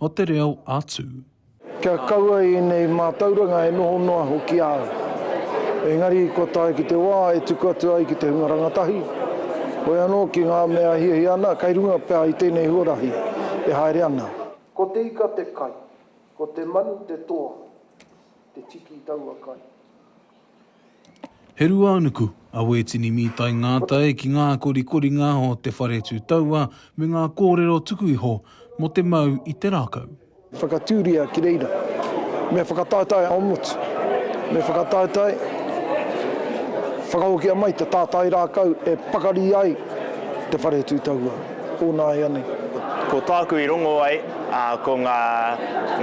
o te reo a Tū. Kia kaua i ēnei mātauranga e noho noa hoki au. Engari kua tae ki te wā e tuku atu ai ki te hunga rangatahi, hoi anō ki ngā mea e hiahia ana kei runga pea i tēnei huarahi e haere ana. Ko te ika te kai, ko te manu te toa, te tiki i taua kai. He ruānuku a Wētini Mītai Ngātai ki ngā korikoringa o Te Whare Tū Taua me ngā kōrero tuku iho mō te mau i te rākau. Whakatūria ki reira. Me whakataetae ao motu. Me whakataetae, whakahokia mai te tātai rākau e pakari ai Te Whare Tū Taua. Onāianei. Ko tāku i rongo ai, ko ngā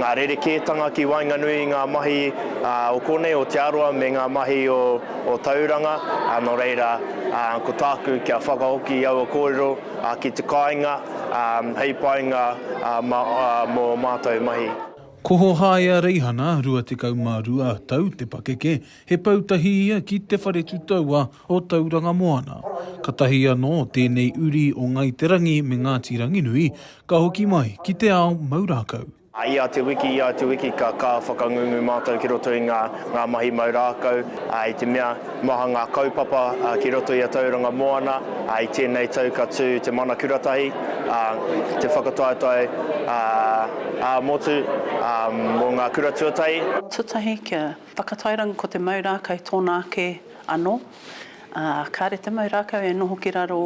ngā rerekētanga ki waenganui i ngā mahi o konei o Te Arawa me ngā mahi o Tauranga, nō reira, ko tāku kia whakahoki i aua kōrero ki te kāinga hei painga mō mātou mahi. Ko Hohaia Reihana, 22 tau, te pakeke, he pau tahi ia ki Te Whare Tutaua o Tauranga Moana. Katahi anō tēnei uri o Ngai Te Rangi me Ngāti Ranginui ka hoki mai ki te ao mau rākau. I ia te wiki, ia te wiki ka ka whakangungu mātou ki roto i ngā ngā mahi mau rākau, i te mea maha ngā kaupapa ki roto i a Tauranga Moana, i tēnei tau ka tū te Mana Kuratahi, te whakataetae ā-motu mō ngā kura tuatahi. Tuatahi kia Whakatairanga ko te mau rākau tōna ake anō, ā, kāre te mau rākau e noho ki raro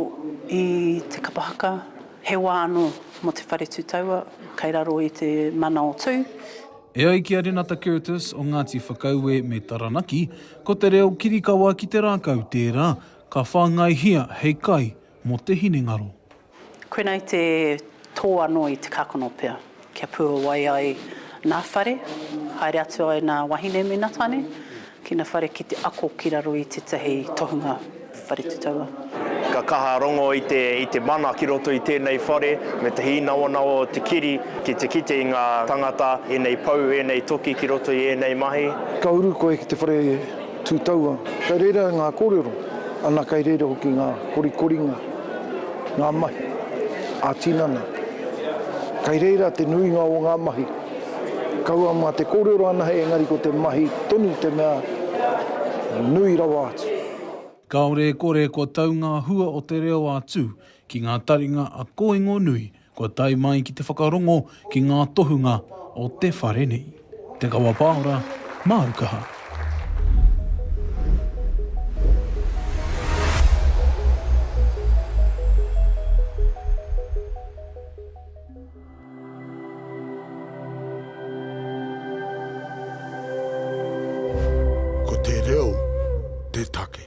i te kapa haka, he wā anō mō te whare tū taua kei raro i te mana o Tū. E ai ki a Renata Curtis o Ngāti Whakaue me Taranaki, ko te reo kirikawa ki te rākau tērā ka whāngaihia hei kai Mo te hinengaro. Koinei te tō anō i te kakono pea. Kia puawai ai nā whare, haere atu ai nā wahine me nā tane ki nā whare ki te ako ki raro i tētahi tohunga whare tutaua. Ka kaha rongo i te i te mana ki roto i tēnei whare me te hīnawanawa o te kiri ki te kite i ngā tangata, ēnei pou, ēnei toki ki roto i ēnei mahi. Ka uru koe ki te whare. Tū taua, kei reira ngā kōrero, ana kei reira hoki ngā korikoringa, ngā mahi ā-tinana. Kei reira te nuinga o ngā mahi. Kaua mā te kōrero anahe engari ko te mahi tonu te mea nui rawa atu. Kāore e kore kua tau ngā hua o te reo ā-tū ki ngā taringa a kōingonui Kua tae mai ki te whakarongo ki ngā tohunga o te whare nei. Te Kawa Paora, māu kaha. Ko te reo te take.